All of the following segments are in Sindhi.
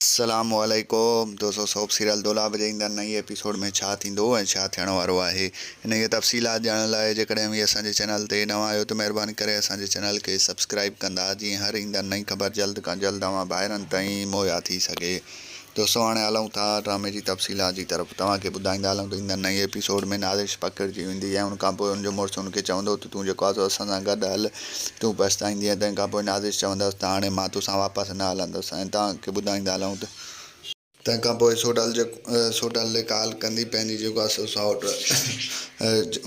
السلام عليڪم دوستو سوپ سيريل دولاب جي ايندڙ نئين ايپيسوڊ ۾ ڇا ٿيندو ۽ ڇا ٿيڻ وارو آهي انهي جي تفصيلات ڄاڻڻ لاء جيڪڏهن اوهين اسان جي چينل تي نوان آهيو ته مهرباني ڪري اسان جي چينل کي سبسڪرائيب ڪندا جيئن هر ايندڙ نئين خبر جلد کان جلد اوهان ڀائرن تائين مهيا ٿي سگهي دوستو هاڻي هلون ٿا ڊرامي جي تفصيلات جي طرف توهان کي ٻڌائيندا هلون ته ايندڙ نئين ايپيسوڊ ۾ نازش پکڙجي ويندي ۽ ان کان پوء ان جو مڙس ان کي چوندو ته تون جيڪو آزو اسان سان گڏ هل تون پڇتائيندينء. تنهن کان پوء نازش چوندس ته هاڻي مان تو سان واپس نه هلندس ۽ توهان کي ٻڌائيندا هلون ته. تنهن کان پوء سوڍل جيڪو سوڍل ڏي ڪال ڪندي پنهنجي جيڪو آهي سو سائوٽ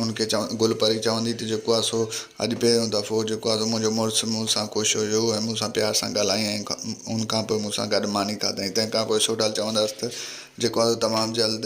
ان کي چوندي گل پري چوندي ته جيڪو آهي سو اڄ پهريون دفعو جيڪو آهي سو منهنجو مڙس مون سان خوش هيو ۽ مون سان پيار سان ڳالهائينء ۽ ان کان پوء مون سان گڏ ماني کاڌائين. تنهن کان پوء سوڍل چوندس ته جيڪو آهي سو تمام جلد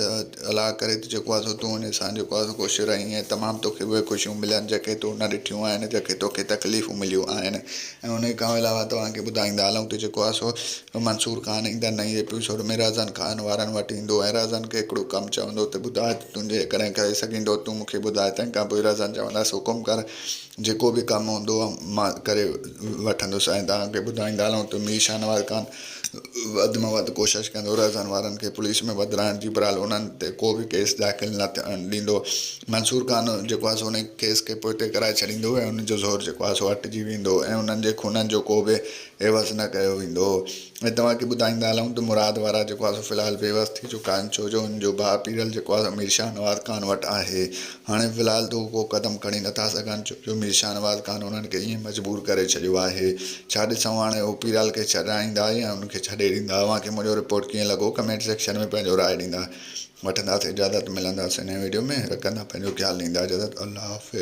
الاء ڪري ٿو جيڪو آهي سو تون وڃ سان جيڪو آهي سو خوش رهين ۽ تمام توکي اهي خوشيون ملن جيڪي تو نه ڏٺيون آهن جيڪي توکي تڪليفون مليون آهن ۽ انهي کان علاوه توهان کي ٻڌائيندا هلون ته جيڪو آهي سو منصور خان ايندڙ نئين ايپيسوڊ ۾ رهزن خان وارن وٽ ايندو ۽ رهزن کي هڪڙو ڪم چوندو ته ٻڌاء ته تون جيڪڏهن ڪري سگهين ٿو تون مون کي ٻڌاء تنهن کان پوء رهزن چوندس حڪم ڪر جيڪو به ڪم هوندو مان ڪري وٺندس ۽ توهان کي ٻڌائيندا هلون ته مير شاهنواز خان وڌ ۾ وڌ ڪوشش ڪندو رهزان وارن کي پوليس ۾ وڌرائڻ جي برحال انهن تي ڪو به ڪيس داخل نه ٿيڻ ڏيندو منصور خان جيڪو آهي سو ان ڪيس کي پوئتي ڪرائي ڇڏيندو ۽ انهن جو زور جيڪو آهي سو هٽجي ويندو ۽ انهن جي خونن جو ڪو به عيوض نه ڪيو ويندو ۽ توهان کي ٻڌائيندا هلون ته مراد وارا جيڪو آهي سو في الحال بيوس ٿي چڪا آهن ڇو جو ان جو ڀاء پيرل جيڪو آهي سو مير شاهنواز خان وٽ آهي هاڻي في الحال ته هو ڪو قدم کڻي نٿا سگهن ڇو جو مير شاهنواز خان انهن کي ائين مجبور ڪري ڇڏيو آهي. ڇا ڏسون هاڻي هو پيرال کي ڇڏرائيندا يا ان کي ڇڏي ڏيندا. اوهان کي منهنجو رپورٽ ڪيئن لڳو ڪمينٽ سيڪشن ۾ پنهنجو راء ڏيندا. وٺنداسين اجازت ملنداسين نئين ويڊيو ۾ رکندا پنهنجو خيال ڏيندا اجازت الله حافظ.